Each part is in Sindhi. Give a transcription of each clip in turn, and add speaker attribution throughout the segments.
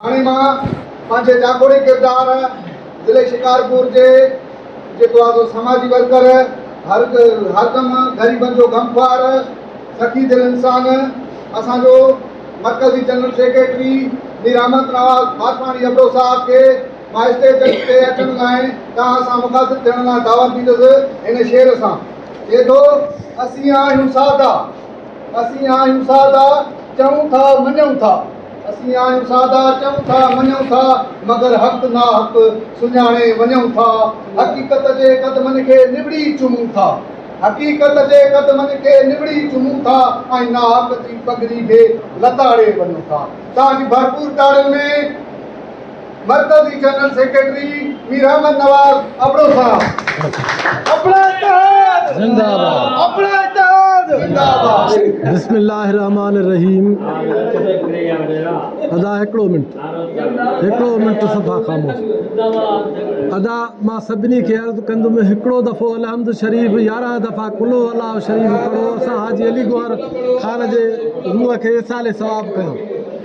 Speaker 1: هاڻي مان پنهنجي جاکوڙي ڪردار ضلعي شڪارپور جي جيڪو آهي سو سماجي ورڪر، هر هردم غريبن جو غمخوار، سخي دل انسان، اسان جو مرڪزي جنرل سيڪريٽري مير احمد نواز ڀاٽواڻي ابڙو صاحب کي مان اسٽيج تي اچڻ لاء توهان سان مخاطب ٿيڻ لاء دعوت ڏيندس هن شعر سان. چئي ٿو اسين آهيون سادا، اسين آهيون سادا، چئون ٿا مڃون ٿا. اسين آهيون سادا چئون ٿا مڃون ٿا مگر حق ناحق سڃاڻي وڃون ٿا حقيقت جي قدمن کي نوڙي چمون ٿا حقيقت جي قدمن کي نوڙي چمون ٿا ۽ ناحق جي پڳڙي به لتاڙي وڃون ٿا تاج ڀرپور تاڙين ۾ مرڪزي جنرل سيڪريٽري مير احمد نواز ابڙو صاحب اپڙا اتحاد زنده آباد اپڙا اتحاد زنده آباد بسم الله الرحمن
Speaker 2: الرحيم ادا هڪڙو منٽ هڪڙو منٽ صفا خاموش ادا ما سڀني کي عرض ڪندم هڪڙو دفعو الحمد شريف 11 دفعا کلو الله شريف پڙهو اسان حاجي علي گوهر خان جي روح کي ايصال ثواب ڪيو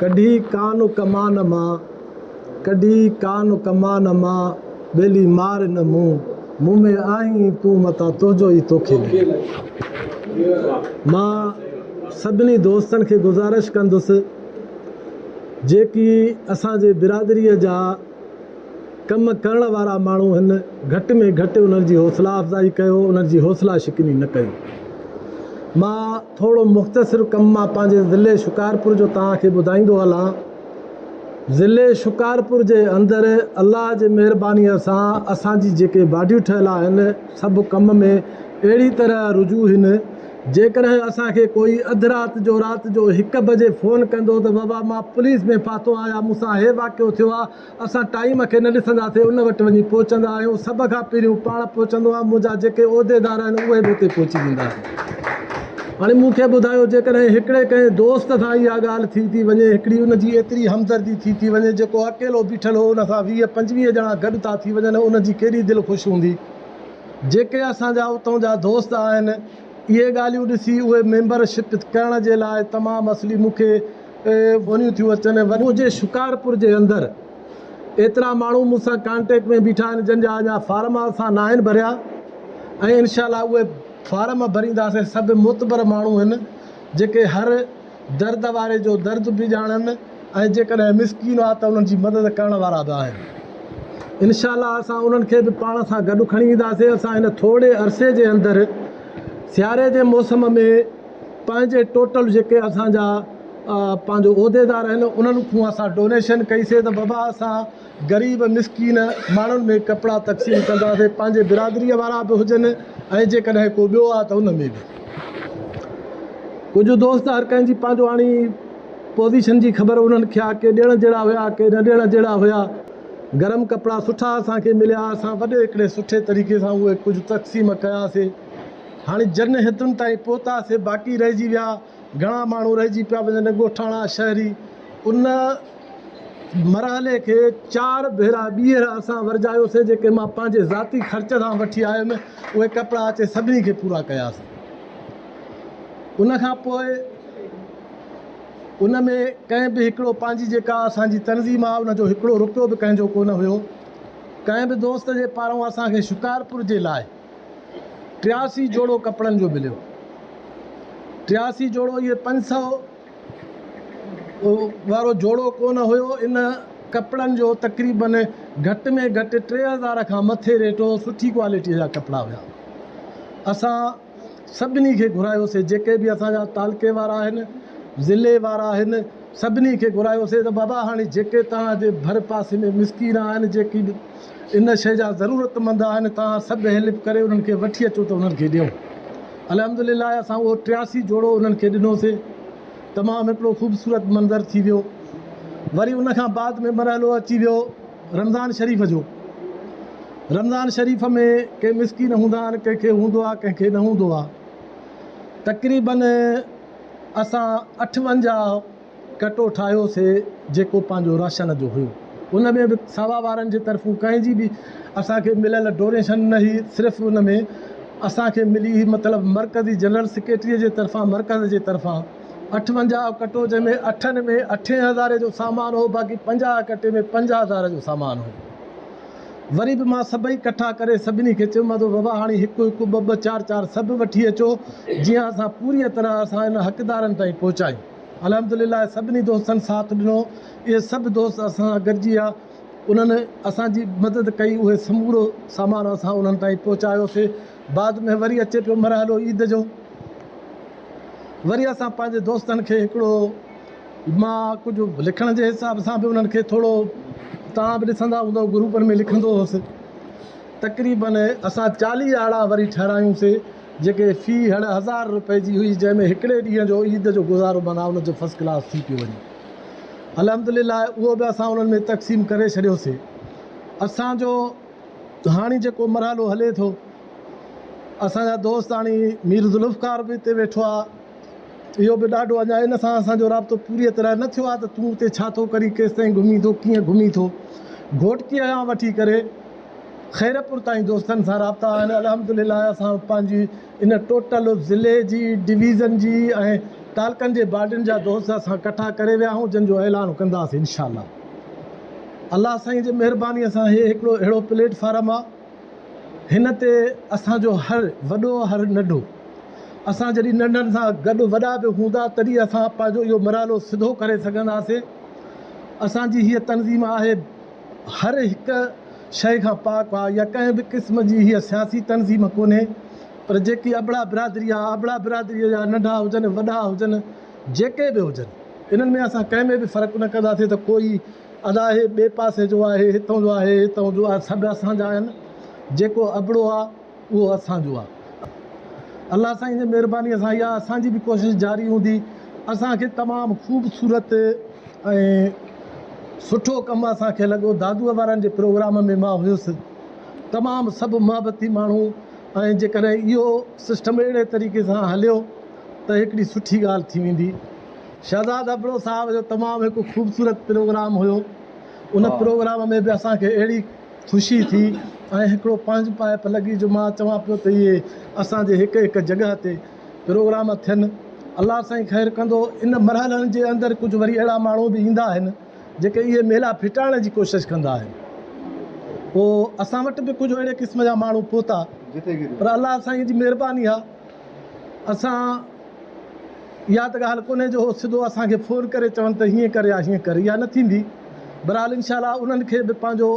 Speaker 2: ڪڍي ڪان ڪمان مان، ڪڍي ڪان ڪمان مان، ٻيلي مار نه مون، مون ۾ آهين تون متان تنهنجو ئي توکي لڳي. مان سڀني دوستن کي گذارش ڪندس جيڪي اسان جي برادري جا ڪم ڪرڻ وارا ماڻهو هن گهٽ ۾ گهٽ انهن جي حوصلا افزائي ڪيو انهن جي حوصلا شڪني نه ڪئي مان ٿورو مختصر ڪم مان پنهنجي ضلعي شڪارپور جو توهان کي ٻڌائيندو هلان ضلعي شڪارپور جي اندر الله جي مهرباني سان اسان جي جيڪي باڊيون ٺهيل آهن سڀ ڪم ۾ اهڙي طرح رجوع هن جيڪڏهن اسان کي ڪوئي اڌ رات جو رات جو هڪ بجي فون ڪندو ته بابا مان پوليس ۾ ڦاٿو آهيان مون سان هي واقعو ٿيو آهي اسان ٽائيم کي نه ڏسنداسين ان وٽ وڃي پهچندا آهيون سڀ کان پهريون پاڻ پهچندو آهيان منهنجا جيڪي عهديدار آهن اهي به اتي پهچي ويندا آهن هاڻي مون کي ٻڌايو جيڪڏهن هڪڙي ڪنهن دوست سان اها ڳالهه ٿي ٿي وڃي هڪڙي ان جي ايتري همدردي ٿي ٿي وڃي جيڪو اڪيلو بيٺل هو ان سان ويهه پنجويهه ڄڻا گڏ ٿا ٿي وڃن ان جي ڪيڏي دل خوش هوندي. جيڪي اسان جا اتون جا دوست آهن اهي ڳالهيون ڏسي اهي ميمبر شپ ڪرڻ جي لاء تمام اصلي مون کي ونيون ٿيون اچن ونيون جي شڪارپور جي اندر ايترا ماڻهو مون سان ڪانٽيڪٽ ۾ بيٺا آهن جن جا اڃا فارم اسان ناهن ڀريا ۽ انشاء الله اهي فارم ڀرينداسين سڀ معتبر ماڻهو هن جيڪي هر درد واري جو درد به ڄاڻن ۽ جيڪڏهن مسڪين هئا ته انهن جي مدد ڪرڻ وارا به آهن. انشاء الله اسان انهن کي به پاڻ سان گڏ کڻي اينداسين. اسان هن ٿورڙي عرصي جي اندر سياري جي موسم ۾ پنهنجي ٽوٽل جيڪي اسان جا پنهنجو عهديدار آهن انهن کون اسان ڊونيشن ڪئي سي ته بابا اسان غريب مسڪين ماڻهن ۾ ڪپڙا تقسيم ڪنداسين پنهنجي برادري وارا به هجن ۽ جيڪڏهن ڪو ٻيو آهي ته ان ۾ به ڪجهه دوست هر ڪنهن جي پنهنجو آڻي پوزيشن جي خبر انهن کي آهي ڪي ڏيڻ جهڙا هيا ڪي نه ڏيڻ جهڙا هيا گرم ڪپڙا سٺا اسان کي مليا اسان وڏي هڪڙي سٺي طريقي سان اهي ڪجهه تقسيم ڪياسي هاڻي جن هتن تائين پهتاسي باقي رهجي ويا گهڻا ماڻهو رهجي پيا وڃن، ڳوٺاڻا شهري ان مرحلي کي چار ڀيرا ٻيهر اسان ورجايوسين جيڪي مان پنهنجي ذاتي خرچ سان وٺي آيم اهي ڪپڙا اچي سڀني کي پورا ڪياسين ان کان پوء ان ۾ ڪنهن به هڪڙو پنهنجي جيڪا اسان جي تنظيم آهي ان جو هڪڙو روپيو به ڪنهن جو ڪونه هيو ڪنهن به دوست جي پاران اسان کي شڪارپور جي لاء ٽياسي جوڙو ڪپڙن جو مليو. ٽياسي جوڙو اهي پنج سئو وارو جوڙو ڪونه هيو. ان ڪپڙن جو تقريباً گهٽ ۾ گهٽ ٽي هزار کان مٿي ريٽ هو. سٺي ڪوالٽيء جا ڪپڙا هيا. اسان سڀني کي گهرايوسين جيڪي به اسان جا تعلقي وارا آهن، ضلعي وارا آهن. سڀني کي گهرايوسين ته بابا هاڻي جيڪي توهان جي ڀرپاسي ۾ مسڪين آهن، جيڪي به ان شيء جا ضرورتمند آهن، توهان سڀ هيلپ ڪري انهن کي وٺي اچو ته انهن کي ڏيون. الحمدلله اسان اهو ٽياسي جوڙو انهن کي ڏنوسين. تمام هڪڙو خوبصورت منظر ٿي ويو. وري ان کان بعد ۾ مرحلو اچي ويو رمضان شريف جو. رمضان شريف ۾ ڪي مسڪين هوندا آهن، ڪنهن کي هوندو آهي، ڪنهن کي نه هوندو آهي. تقريبن اسان اٺونجاهه ڪٽو ٺاهيوسي جيڪو پنهنجو راشن جو هيو ان ۾ به ساوا وارن جي طرفون ڪنهن جي به اسان کي مليل ڊونيشن نه هئي صرف ان ۾ اسان کي ملي هئي مطلب مرڪزي جنرل سيڪريٽري جي طرفان مرڪز جي طرفان اٺونجاهه ڪٽو جنهن ۾ اٺن ۾ اٺين هزارين جو سامان هو باقي پنجاهه ڪٽي ۾ پنج هزار جو سامان هو. وري به مان سڀئي ڪٺا ڪري سڀني کي چيومانس ته بابا هاڻي هڪ هڪ، ٻه ٻه، چار چار سڀ وٺي اچو جيئن اسان پوريء طرح اسان انهن حقدارن تائين پهچايون. الحمد لله سڀني دوستن ساٿ ڏنو. اهي سڀ دوست اسان سان گڏجي آيا. انهن اسان جي مدد ڪئي. اهو سمورو سامان اسان انهن تائين پهچايوسين. بعد ۾ وري اچي پيو مرحلو عيد جو. وري اسان پنهنجي دوستن کي هڪڙو مان ڪجهه لکڻ جي حساب سان به انهن کي ٿورو توهان به ڏسندا هوندؤ گروپن ۾ لکندو هوس. تقريبن اسان چاليهه آڙا وري ٺهرايون سي جيڪي في هڙ هزار روپئي جي هئي جنهن ۾ هڪڙي ڏينهن جو عيد جو گذارو معنيٰ ان جو فرسٽ ڪلاس ٿي پيو وڃي. الحمدلله اهو به اسان انهن ۾ تقسيم ڪري ڇڏيو سي. اسان جو هاڻي جيڪو مرحلو هلي ٿو اسان جا دوست هاڻي مير ذوالفقار به اتي ويٺو آ. اهو به ڏاڍو اڃا ان سان اسان جو رابطو پوريء طرح نه ٿيو آهي ته تون اتي ڇا ٿو ڪرين، ڪيستائين گهمين ٿو، ڪيئن گهمين ٿو. گهوٽڪيء کان وٺي ڪري خيرپور تائين دوستن سان رابطا آهن. الحمدلله اسان پنهنجي ان ٽوٽل ضلعي جي، ڊويزن جي ۽ تعلقن جي باڊين جا دوست اسان ڪٺا ڪري ويا آهيون، جن جو اعلان ڪنداسين انشاءالله. الله سائينء جي مهربانيء سان هي هڪڙو اهڙو پليٽ فارم آهي، هن تي اسان جو هر وڏو هر ننڍو اسان جڏهن ننڍن سان گڏ وڏا به هوندا تڏهن اسان پنهنجو اهو مرحلو سڌو ڪري سگهنداسين اسان جي هيء تنظيم آهي هر هڪ شيء کان پاڪ آ يا ڪنهن به قسم جي هيء سياسي تنظيم ڪونهي پر جيڪي ابڙا برادري آ ابڙا برادري جا ننڍا هجن وڏا هجن جيڪي به هجن انهن ۾ اسان ڪنهن ۾ به فرق نه ڪنداسين ته ڪوئي ادا هي ٻئي پاسي جو آ، هي هتئون جو آ، هي هتئون جو آ، سڀ اسان جا آهن، جيڪو ابڙو آ، اهو اسان جو آ. الله سائين جي مهربانيء سان اها اسان جي به ڪوشش جاري هوندي. اسان کي تمام خوبصورت ۽ سٺو ڪم اسان کي لڳو. دادوء وارن جي پروگرام ۾ مان هيس. تمام سڀ محبتي ماڻهو ۽ جيڪڏهن اهو سسٽم اهڙي طريقي سان هليو ته هڪڙي سٺي ڳالهه ٿي ويندي. شهزاد ابڙو صاحب جو تمام هڪ خوبصورت پروگرام هيو ان پروگرام ۾ به اسان کي اهڙي خوشي ٿي ۽ هڪڙو پنهنج پائپ لڳي جو مان چوان پيو ته اهي اسان جي هڪ هڪ جڳهه تي پروگرام ٿين الله سائين خير ڪندو ان مرحلن جي اندر ڪجهه وري اهڙا ماڻهو به ايندا آهن جيڪي اهي ميلا ڦٽائڻ جي ڪوشش ڪندا آهن پوء اسان وٽ به ڪجهه اهڙي قسم جا ماڻهو پهتا پر الله سائين جي مهرباني آهي اسان اها ته ڳالهه ڪونهي جو هو سڌو اسان کي فون ڪري چون ته هيئن ڪر يا هيئن ڪر، اها نه ٿيندي. بهرحال انشاء الله انهن کي به پنهنجو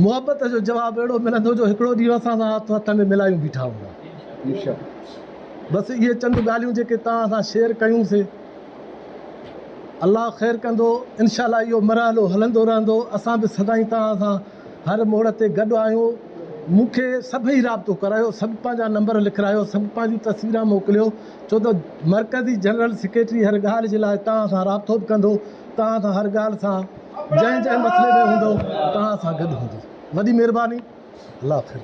Speaker 2: محبت جو جواب اهڙو ملندو جو هڪڙو ڏينهن اسان سان هٿ هٿ ۾ ملايون بيٺا هوندا. بس اهي چند ڳالهيون جيڪي توهان سان شيئر ڪيون سي الله خير ڪندو انشاء الله اهو مرحلو هلندو رهندو اسان به سدائين توهان سان هر موڙ تي گڏ آهيون، مون کي سڀئي رابطو ڪرايو، سڀ پنهنجا نمبر لکرايو، سڀ پنهنجون تصويران موڪليو، ڇو ته مرڪزي جنرل سيڪريٽري هر ڳالهه جي لاء توهان سان رابطو به ڪندو، توهان سان هر ڳالهه سان جنهن جنهن مسئلي ۾ هوندو، توهان سان گڏ هوندو. وڏي مهرباني. الله حافظ.